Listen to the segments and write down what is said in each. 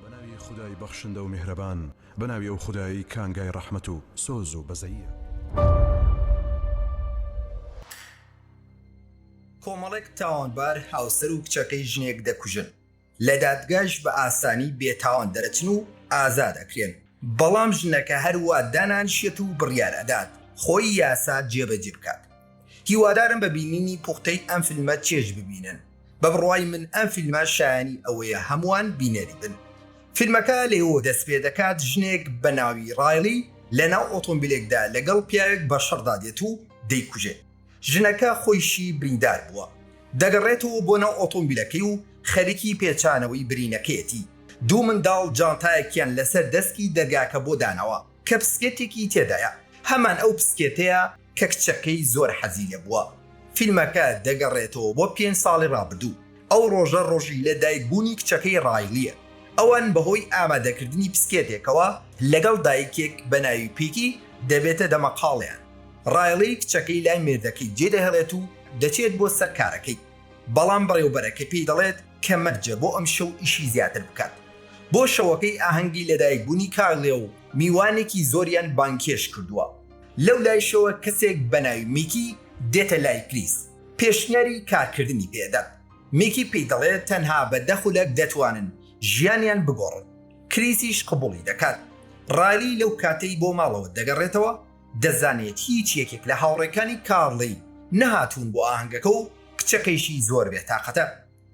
بە ناوی خودای بەخشندە و میهرەبان، بە ناوی ئەو خودایەی کانگای ڕەحمەت و سۆز و بەزەییە. کۆمەڵێک تاوانبار هاوسەر و کچەکەی ژنێک دەکوژن، لە دادگاش بە ئاسانی بێتاوان دەرەچن و ئازاد ئەکرێن، بەڵام ژنەکە هەروا دانانیشێت و بڕیار ئەدات خۆی یاسا جێبەجێ بکات. هیوادارم بە بینینی پوختەی ئەم فیلمە چێژ ببینن بە بڕوای من ئەم فیلمە شایەنی ئەوەیە هەمووان بینەری بن فیلمەکە لەوێوە دەست پێ دەکات ژنێک بە ناوی ڕایڵی لە ناو ئۆتۆمبیلێکدا لەگەڵ پیاوێک بە شەڕدا دێت و دەیکوژێت ژنەکە خۆیشی بریندار بووە دەگەڕێتەوە بۆ ناو ئۆتۆمبیلەکەی و خەریکی پێچانەوەی برینەکەیەتی دوو منداڵ جانتایەکیان لەسەر دەسکی دەرگاکە بۆ داناوە کە پسکێتێکی تێدایە هەمان ئەو پسکێتەیە کە کچەکەی زۆر حەزی لێ بووە. فیلمەکە دەگەڕێتەوە بۆ پێنج ساڵی ڕابردوو، ئەو ڕۆژە ڕۆژی لە دایک بوونی کچەکەی ڕایلیە، ئەوان بەهۆی ئامادەکردنی بسکێتێکەوە لەگەڵ دایکێک بە ناوی پیتی دەبێتە دەمەقاڵێیان، ڕایلی کچەکەی لای مێردەکەی جێ دەهێڵێت و دەچێت بۆ سەر کارەکەی، بەڵام بەڕێوبەرەکە پێی دەڵێت کە مەرجە بۆ ئەمشەو ئیشی زیاتر بکات. بۆ شەوەکەی ئاهەنگی لەدایک بوونی کارلێ و میوانێکی زۆریان بانگهێشت کردووە. لەو لایشەوە کەسێک بەناوی میکی دێتە لای کریس پێشنیاری کارکردنی پێدەن میکی پێی دەڵێت تەنها بە دە خولەک دەتوانن ژیانیان بگۆڕن کریسیش قبوڵی دەکات رایلی لەو کاتەی بۆ ماڵەوە دەگەڕێتەوە دەزانێت هیچ یەکێک لە هاوڕێکانی کارلی نەهاتوون بۆ ئاهەنگەکە و کچەکەیشی زۆر بێ تاقەتە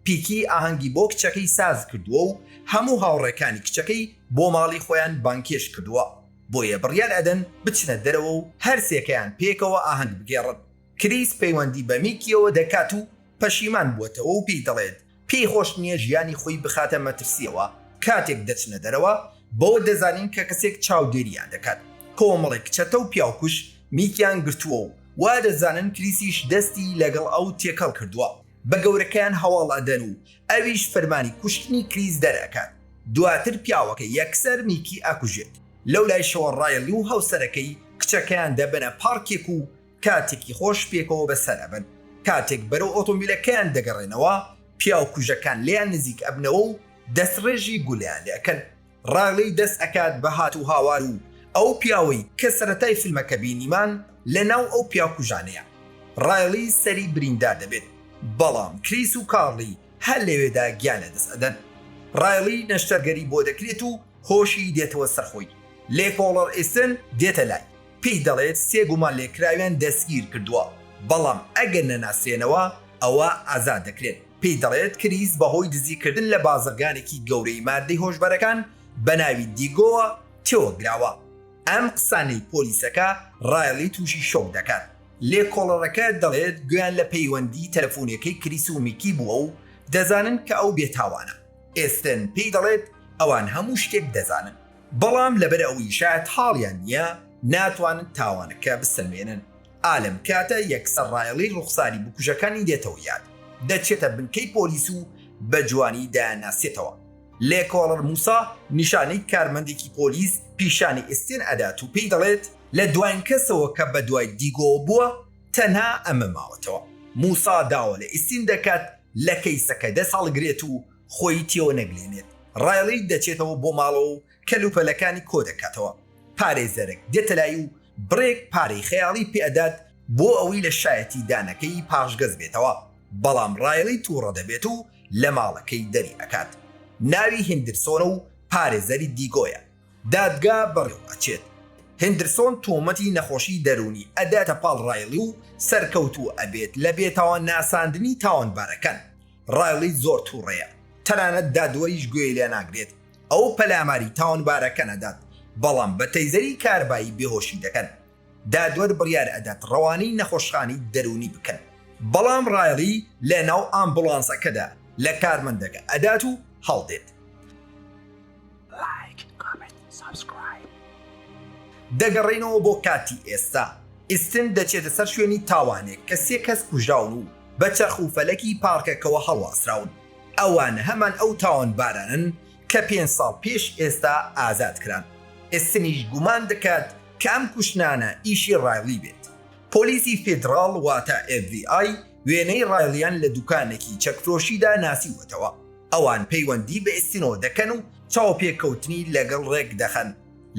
پیکی ئاهەنگی بۆ کچەکەی سازکردووە و هەموو هاوڕێکانی کچەکەی بۆ ماڵی خۆیان بانگهێشت کردووە. بۆیە بڕیار ئەدەن بچنە دەرەوە و هەرسێکەیان پێکەوە ئاهەنگ بگێڕن. کریس پەیوەندی بە میکییەوە دەکات و پەشیمان بووەتەوە و پێی دەڵێت پێی خۆش نییە ژیانی خۆی بخاتە مەترسییەوە، کاتێک دەچنە دەرەوە بەوە دەزانین کە کەسێک چاودێرییان دەکات، کۆمەڵێک چەتە و پیاوکوژ میکییان گرتووە و وادەزانن کریسیش دەستی لەگەڵ ئەو تێکەڵ کردووە. بە گەورەکەیان هەواڵ ئەدەن و ئەویش فەرمانی کوشتنی کریس دەرئەکات، دواتر پیاوەکە یەکسەر میکی ئەکوژێت، لەولایشەوە ڕایڵی و هاوسەرەکەی کچەکەیان دەبەنە پارکێک و کاتێکی خۆش پێکەوە بەسەر ئەبەن، کاتێک بەرەو ئۆتۆمبیلەکەیان دەگەڕێنەوە پیاو کوژەکان لێیان نزیک ئەبنەوە و دەستڕێژی گولەیان لێ ئەکەن. ڕالی دەست ئەکات بە هات و هاوار و ئەو پیاوەی کە سەرەتای فیلمەکە بینیمان لە ناو ئەو پیاو کوژانەیە ڕالی سەری بریندار دەبێت بەڵام کریس و کارلی هەر لەوێدا گیان لە دەست ئەدەن ڕالی نەشتەرگەری بۆ دەکرێت و هۆشی دێتەوە سەر خۆی لێ پۆڵەڕ ئیستن دێتە لای پێی دەڵێت سێ گومان لێکراویان دەستگیر کردووە بەڵام ئەگەر نەناسرێنەوە ئەوا ئازاد دەکرێن. پێی دەڵێت کریس بەهۆی دزیکردن لە بازرگانێکی گەورەی ماددەی هۆشبەرەکان بە ناوی دیگۆوە تێوەگلاوە. ئەم قسانەی پۆلیسەکە ڕایڵی تووشی شۆک دەکات. لێکۆڵەرەکە دەڵێت گوێیان لە پەیوەندی تەلەفونیەکەی کریس و میکی بووە و دەزانن کە ئەو بێتاوانە. ئێستن پێی دەڵێت ئەوان هەموو شتێک دەزانن، بەڵام لەبەر ئەوەی شایەتحاڵیان نییە، ناتوانن تاوانەکە بسەلمێنن. ئا لەم کاتە یەکسەر ڕایەڵی ڕوخساری بکوژەکانی دێتەوە یاد، دەچێتە بنکەی پۆلیس و بە جوانی دەیانناسێتەوە. لێکۆڵەر موسا نیشانەی کارمەندێکی پۆلیس پیشانی ئێستێن ئەدات و پێی دەڵێت، لە دواین کەسەوە کە بە دوای دیگۆوە بووە تەنها ئەمە ماوەتەوە. موسا داوا لە ئێستین دەکات لە کەیسەکە دەست هەڵگرێت و خۆی تێوەنەگلێنێت. ڕایەڵی دەچێتەوە بۆ ماڵەوە و کەل و پەلەکانی کۆ دەکاتەوە، پارێزەرەک دێتە لای و بڕێک پارەی خەیاڵی پێ ئەدات بۆ ئەوەی لە شایەتی دانەکەی پاشگەز بێتەوە، بەڵام ڕایڵی توڕە دەبێت و لە ماڵەکەی دەری ئەکات. ناوی هیندرسۆنە و پارێزەری دیگۆیە. دادگا بەڕێوە ئەچێت. هیندرسۆن تۆمەتی نەخۆشی دەروونی ئەداتە پاڵ ڕایڵی و سەرکەوتوو ئەبێت لە بێتاوان ناساندنی تاوانبارەکان. ڕایڵی زۆر توڕەیە، تەنانەت دادوەریش گوێی لێ ناگرێت. ئەو پەلاماری تاوانبارەکە نەدات، بەڵام بە تەیزەری کاربایی بێهۆشی دەکەن. دادوەر بڕیار ئەدات ڕەوانەی نەخۆشخانەی دەروونی بکەن. بەڵام ڕایڵی لە ناو ئامبوڵانسەکەدا لە کارمەندەکە ئەدات و هەڵدێت. دەگەڕێینەوە بۆ کاتی ئێستا. ئیستن دەچێتە سەر شوێنی تاوانێک کە سێ کەس کوژراون و بە چەرخ و فەلەکی پارکەکەوە هەڵواسراون. ئەوان هەمان ئەو تاوانبارانەن کە پێنج ساڵ پێش ئێستا ئازاد کران. ئستنیش گومان دەکات کە ئەم کوشتنانە ئیشی ڕایڵی بێت. پۆلیسی فیدڕاڵ واتە FBI وێنەی ڕایڵیان لە دوکانێکی چەکفرۆشیدا ناسیوەتەوە. ئەوان پەیوەندی بە ئستنەوە دەکەن و چاوپێکەوتنی لەگەڵ ڕێکدەخەن.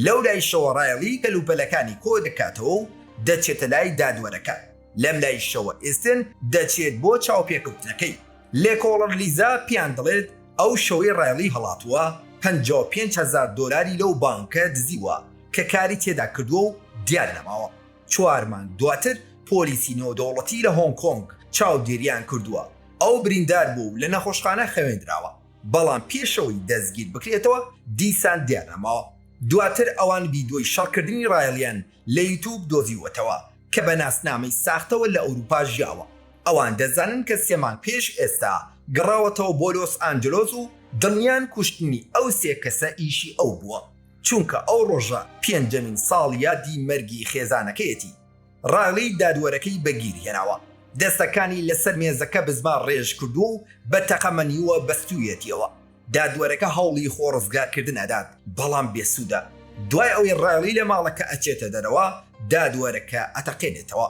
لەولایشەوە ڕایڵی کەلوپەلەکانی کۆدەکاتەوە و دەچێتە لای دادوەرەکە. لەم لایشەوە ئستن دەچێت بۆ چاوپێکەوتنەکەی. لێکۆڵەر لیزا پێیان دەڵێت، ئەو شەوەی ڕایڵی هەڵاتووە، پەنجا و پێنج هەزار دۆلاری لەو بانکە دزیوە کە کاری تێدا کردووە و دیار نەماوە. چوار مانگ دواتر پۆلیسی نێودەوڵەتی لە هۆنگ کۆنگ چاودێرییان کردووە، ئەو بریندار بووە و لە نەخۆشخانە خەوێندراوە، بەڵام پێش ئەوەی دەستگیر بکرێتەوە دیسان دیار نەماوە. دواتر ئەوان ڤیدیۆی شەڕکردنی ڕایڵیان لە یوتوب دۆزیوەتەوە کە بە ناسنامەی ساختەوە لە ئەوروپا ژیاوە، ئەوان دەزانن کە سێ مانگ پێش ئێستا گەڕاوەتەوە بۆ لۆس ئانجلۆس و دڵنیان کوشتنی ئەو سێ کەسە ئیشی ئەو بووە، چونکە ئەو ڕۆژە پێنجەمین ساڵیادی مەرگی خێزانەکەیەتی. ڕایڵی دادوەرەکەی بە گیر هێناوە، دەستەکانی لەسەر مێزەکە بزمار ڕێژ کردووە و بە تەقەمەنیوە بەستوویەتیەوە. دادوەرەکە هەوڵی خۆ ڕزگارکردن ئەدات بەڵام بێسودە، دوای ئەوەی ڕایڵی لە ماڵەکە ئەچێتە دەرەوە دادوەرەکە ئەتەقێنێتەوە،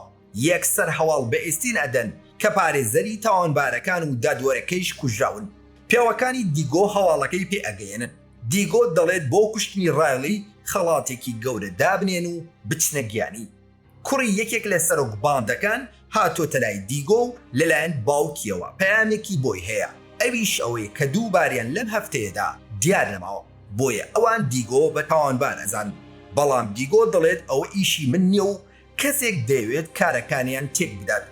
یەکسەر هەواڵ بە ئێستین ئەدەن کە پارێزەری تاوانبارەکان و دادوەرەکەیش کوژراون، پێوەکانی دیگۆ هەواڵەکەی پێ ئەگەیەنن، دیگۆ دەڵێت بۆ کوشتنی ڕایڵی خەڵاتێکی گەورە دابنێن و بچنە گیانی. کوڕی یەکێک لە سەرۆک باندەکان هاتۆتە لای دیگۆ و لەلایەن باوکیەوە پەیامێکی بۆی هەیە ئەویش ئەوەیە کە دوو باریان لەم هەفتەیەدا دیار نەماوە بۆیە ئەوان دیگۆ بە تاوانبار ئەزانن بەڵام دیگۆ دەڵێت ئەوە ئیشی من نیە و کەسێک دەیەوێت کارەکانیان تێک بدات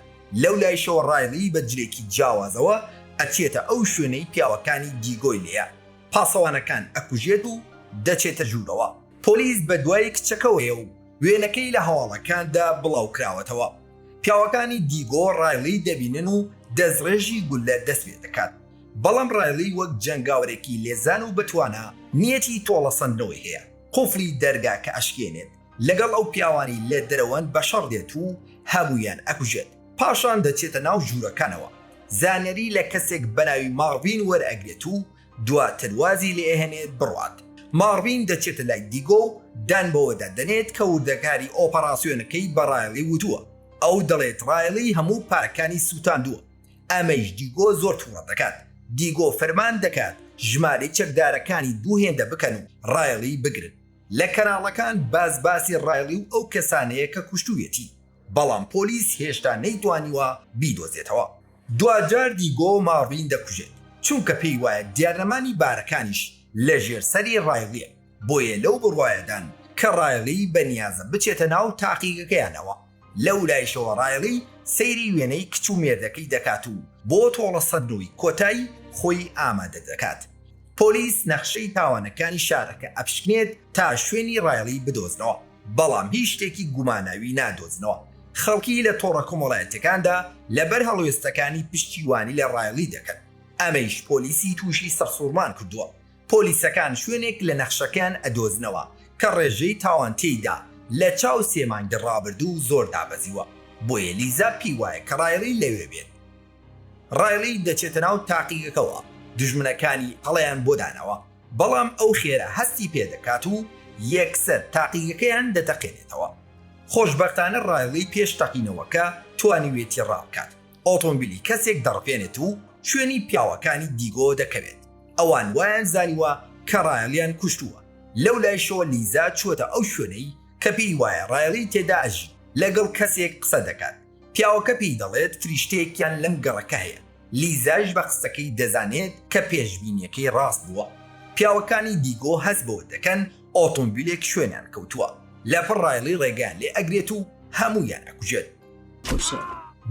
لەو لایشەوە ڕایڵی بە جلێکی جیاوازەوە ئەچێتە ئەو شوێنەی پیاوەکانی دیگۆی لێیە پاسەوانەکان ئەکوژێت و دەچێتە ژوورەوە پۆلیس بە دوای کچەکەوەیە و وێنەکەی لە هەواڵەکاندا بڵاوکراوەتەوە، پیاوەکانی دیگۆ ڕایڵی دەبینن و دەستڕێژی گوللە دەستپێدەکات، بەڵام ڕایڵی وەک جەنگاوەرێکی لێزان و بەتوانا نیەتی تۆڵەسەندنەوەی هەیە، قوفڵی دەرگاکە ئەشکێنێت، لەگەڵ ئەو پیاوانەی لە دەرەوەن بەشەڕ دێت و هەموویان ئەکوژێت. پاشان دەچێتە ناو ژوورەکانەوە، زانیاری لە کەسێک بەناوی ماڕڤین وەرئەگرێت و دواتر وازی لێئەهێنێت بڕوات. ماڕڤین دەچێتە لای دیگۆ و دان بەوەدا دەنێت کە وردەکاری ئۆپەڕاسیۆنەکەی بە ڕایڵی وتووە. ئەو دەڵێت ڕایڵی هەموو پارەکانی سووتاندووە. ئەمەیش دیگۆ زۆر تووڕە دەکات. دیگۆ فەرمان دەکات ژمارەی چەکدارەکانی دوو هێندە بکەن و ڕایڵی بگرن. لە کەناڵەکان باس باسی ڕایڵی و ئەو کەسانەیە کە کوشتوویەتی. بەڵام پۆلیس هێشتا نەیتوانیوە بیدۆزێتەوە. دواجار دیگۆ ماڕین دەکوژێت، چونکە پێی وایە دیارنەمانی بارەکانیش لەژێر سەری ڕایڵییە، بۆیە لەو بڕوایەدان کە ڕایڵی بەنیازە بچێتە ناو تاقیگەکەیانەوە. لەولایشەوە ڕایڵی سەیری وێنەی کچ و مێردەکەی دەکات و بۆ تۆڵەسەندنەوەی کۆتای خۆی ئامادە دەکات. پۆلیس نەخشەی تاوانەکانی شارەکە ئەپشکنێت تا شوێنی ڕایڵی بدۆزنەوە. بەڵام هیچ شتێکی گوماناوی نادۆزنەوە. خەڵکی لە تۆڕە کۆمەڵایەتیەکاندا لەبەر هەڵوێستەکانی پشتیوانی لە ڕایڵی دەکەن، ئەمەیش پۆلیسی تووشی سەرسوڕمان کردووە. پۆلیسەکان شوێنێک لە نەخشەکەیان ئەدۆزنەوە کە ڕێژەی تاوان تێیدا لە چاو سێ مانگی ڕابردوو زۆر دابەزیوە، بۆیە لیزا پێی وایە کە ڕایڵی لەوێ بێت. ڕایڵی دەچێتە ناو تاقیگەکەوە، دوژمنەکانی ئەڵێیان بۆ دانەوە، بەڵام ئەو خێرا هەستی پێ دەکات و یەکسەر تاقیگەکەیان دەتەقێنێتەوە. خۆشبەختانە ڕایڵی پێش تەقینەوەکە توانیوێتی ڕا بکات، ئۆتۆمبیلی کەسێک دەڕفێنێت و شوێنی پیاوەکانی دیگۆ دەکەوێت، ئەوان وایان زانیوە کە ڕایڵیان کوشتووە، لەو لایشەوە لیزا چووەتە ئەو شوێنەی کە پێی وایە ڕایڵی تێدا ئەژی، لەگەڵ کەسێک قسە دەکات. پیاوەکە پێی دەڵێت فریشتەیەکیان لەم گەڕەکە هەیە، لیزاش بە قسەکەی دەزانێت کە پێشبینییەکەی ڕاست بووە. پیاوەکانی دیگۆ هەست بەوە دەکەن ئۆتۆمبیلێک شوێنیان کەوتووە، لەپڕ ڕایڵی ڕێگەیان لێ ئەگرێت و هەموویان ئەکوژێت.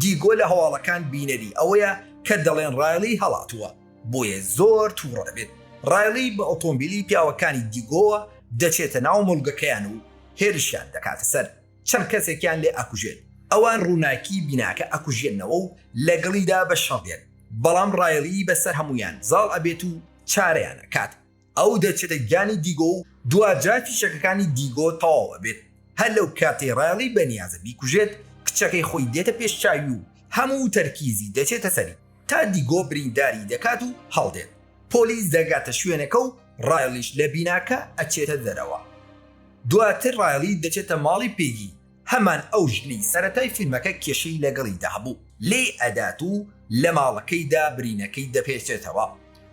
دیگۆ لە هەواڵەکان بینەری ئەوەیە کە دەڵێن ڕایڵی هەڵاتووە، بۆیە زۆر تووڕ دەبێت. ڕایڵی بە ئۆتۆمبیلی پیاوەکانی دیگۆوە دەچێتە ناو مۆڵگەکەیان و هێرشیان دەکاتە سەر. چەند کەسێکیان لێ ئەکوژێت، ئەوان ڕووناکی بیناکە ئەکوژێننەوە و لەگەڵیدا بە شەڕ دێن، بەڵام ڕایڵی بەسەر هەموویان زاڵ ئەبێت و چارەیان ئەکات، ئەو دەچێتە گیانی دیگۆ و دواجار فیشەکەکانی دیگۆ تەواو ئەبێت، هەر لەو کاتەی ڕایڵی بەنیازە بیکوژێت، کچەکەی خۆی دێتە پێش چاوی و هەموو تەرکیزی دەچێتە سەری. تا دیگۆ برینداری دەکات و هەڵدێت پۆلیس دەگاتە شوێنەکە و ڕایڵیش لە بیناکە ئەچێتە دەرەوە دواتر ڕایڵی دەچێتە ماڵی پێگی هەمان ئەو ژنەی سەرەتای فیلمەکە کێشەی لەگەڵیدا هەبوو لێی ئەدات و لە ماڵەکەیدا برینەکەی دەپێچێتەوە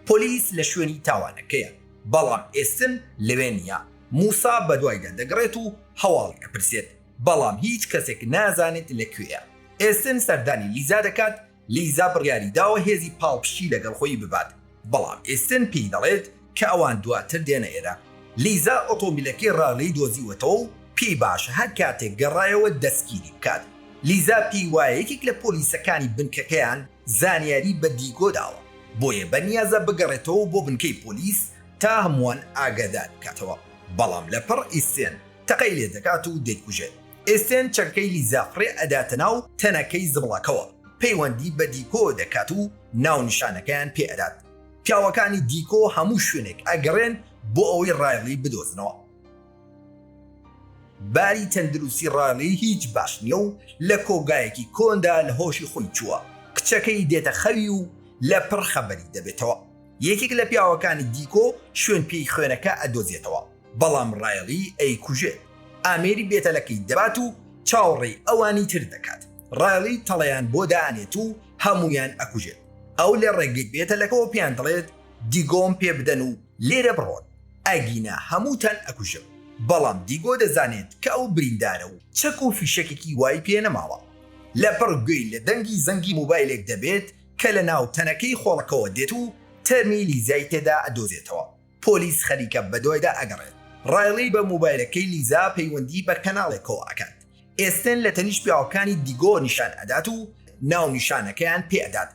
پۆلیس لە شوێنی تاوانەکەیە بەڵام ئێستن لەوێ نییە موسا بەدوایدا دەگڕێت و هەواڵی ئەپرسێت بەڵام هیچ کەسێک نازانێت لەکوێیە ئێستن سەردانی لیزا دەکات لیزا بڕیاری داوە هێزی پاڵپشتی لەگەڵ خۆی ببات، بەڵام ئێستن پێی دەڵێت کە ئەوان دواتر دێنە ئێرە. لیزا ئۆتۆمبیلەکەی ڕارلی دۆزیوەتەوە و پێی باشە هەر کاتێک گەڕایەوە دەستگیری بکات. لیزا پێی وایە یەکێک لە پۆلیسەکانی بنکەکەیان زانیاری بە دیگۆ داوە، بۆیە بە نیازە بگەڕێتەوە بۆ بنکەی پۆلیس تا هەمووان ئاگادار بکاتەوە، بەڵام لەپڕ ئیستن تەقەی لێدەکات و دەیکوژێت. ئێسێن چەکەی لیزا فڕێ ئەداتە ناو تەنەکەی زبڵەکەوە، پەیوەندی بە دیکۆ دەکات و ناونیشانەکەیان پێ ئەدات. پیاوەکانی دیکۆ هەموو شوێنێک ئەگەڕێن بۆ ئەوەی ڕایڵی بدۆزنەوە. باری تەندروستی ڕایڵی هیچ باش نییە و لە کۆگایەکی کۆندا لە هۆشی خۆی چووە، کچەکەی دێتە خەوی و لە پڕ خەبەری دەبێتەوە. یەکێک لە پیاوەکانی دیکۆ شوێن پێی خوێنەکە ئەدۆزێتەوە. بەڵام ڕایڵی ئەیکوژێت، ئامێری بێتەلەکەی دەبات و چاوەڕێی ئەوانی تر دەکات، ڕایڵی تەڵەیان بۆ دانێت و هەموویان ئەکوژێت، ئەو لە ڕێگەی بێتەلەکەوە پێیان دەڵێت دیگۆم پێ بدەن و لێرە بڕۆن ئەگینا هەمووتان ئەکوژم، بەڵام دیگۆ دەزانێت کە ئەو بریندارە و چەک و فیشەکێکی وای پێ نەماوە، لەپڕ گوێی لە دەنگی زەنگی موبایلێک دەبێت کە لە ناو تەنەکەی خۆڵەکەوە دێت و تەرمی لیزای تێدا ئەدۆزێتەوە. پۆلیس خەریکە بەدوایدا ئەگەڕێت. ڕایڵی بە مۆبایلەکەی لیزا پەیوەندی بە کەناڵێکەوە ئەکات. ئێستێن لە تەنیشت پیاوەکانی دیگۆ نیشان ئەدات و ناونیشانەکەیان پێ ئەدات.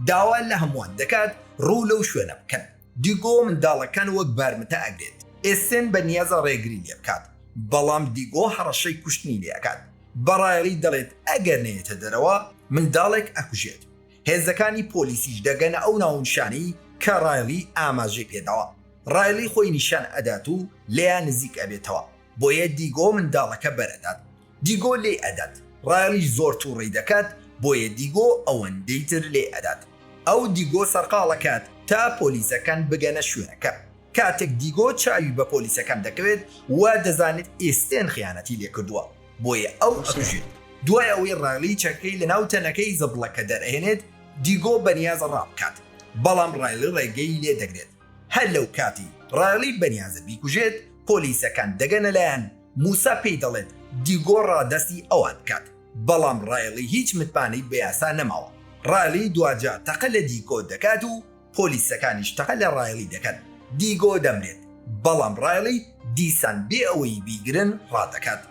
داوا لە هەمووان دەکات ڕوو لەو شوێنە بکەن. دیگۆ منداڵەکان وەک بارمتە ئەگرێت. ئێستێن بە نیازە ڕێگری لێ بکات، بەڵام دیگۆ هەڕەشەی کوشتنی لێ ئەکات. بە ڕایڵی دەڵێت ئەگەر نەیەتە دەرەوە منداڵێک ئەکوژێت. هێزەکانی پۆلیسیش دەگەنە ئەو ناونیشانەی کە ڕایڵی ئاماژەی پێداوە، ڕایڵی خۆی نیشان ئەدات و لێیان نزیک ئەبێتەوە، بۆیە دیگۆ منداڵەکە بەرئەدات، دیگۆ لێی ئەدات، ڕایڵیش زۆر توڕەی دەکات، بۆیە دیگۆ ئەوەندەی تر لێی ئەدات، ئەو دیگۆ سەرقاڵەکات تا پۆلیسەکان بگەنە شوێنەکە، کاتێک دیگۆ چاوی بە پۆلیسەکان دەکەوێت وادەزانێت ئێستێن خیانەتی لێکردووە، بۆیە ئەو ئەکوژێت دوای ئەوەی ڕایلی چەکەی لەناو تەنەکەی زبڵەکە دەرئەهێنێت دیگۆ بەنیازە ڕابکات بەڵام ڕایلی ڕێگەی لێدەگرێت هەر لەو کاتی ڕایلی بەنیازە بیکوژێت پۆلیسەکان دەگەنە لایان موسا پێی دەڵێت دیگۆ ڕادەستی ئەوان بکات بەڵام ڕایلی هیچ متمانەی بەیاسا نەماوە ڕایلی دواجار تەقە لە دیگۆ دەکات و پۆلیسەکانیش تەقە لە ڕایڵی دەکەن. دیگۆ دەمرێت، بەڵام ڕایڵی دیسان بێ ئەوەی بیگرن ڕادەکات.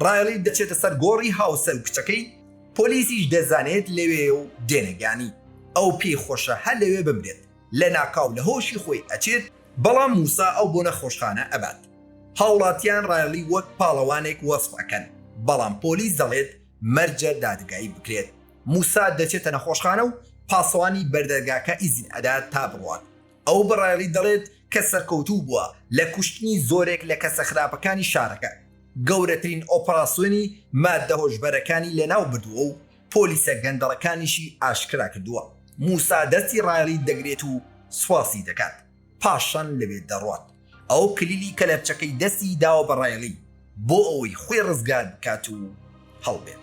ڕایڵی دەچێتە سەر گۆڕی هاوسەر و کچەکەی، پۆلیسیش دەزانێت لەوێیە و دێنەگانی. ئەو پێی خۆشە هەر لەوێ بمرێت. لەناکاو لە هۆشی خۆی ئەچێت، بەڵام موسا ئەو بۆ نەخۆشخانە ئەبات. هاوڵاتیان ڕایڵی وەک پاڵەوانێک وەسف ئەکەن، بەڵام پۆلیس دەڵێت مەرجە دادگایی بکرێت. موسا دەچێتە نەخۆشخانە و پاسەوانی بەردەرگاکە ئیزن ئەدات تا بڕوات. ئەو بە ڕایڵی دەڵێت کە سەرکەوتوو بووە لە کوشتنی زۆرێک لە کەسە خراپەکانی شارەکە، گەورەترین ئۆپەراسیۆنی ماددە هۆشبەرەکانی لەناو بردووە و پۆلیسە گەندەڵەکانیشی ئاشکرا کردووە. موسا دەستی ڕایڵی دەگرێت و سوپاسی دەکات، پاشان لەوێ دەڕوات. ئەو کلیلی کەلەپچەکەی دەستی داوە بە ڕایڵی بۆ ئەوەی خۆی ڕزگار بکات و هەڵبێت.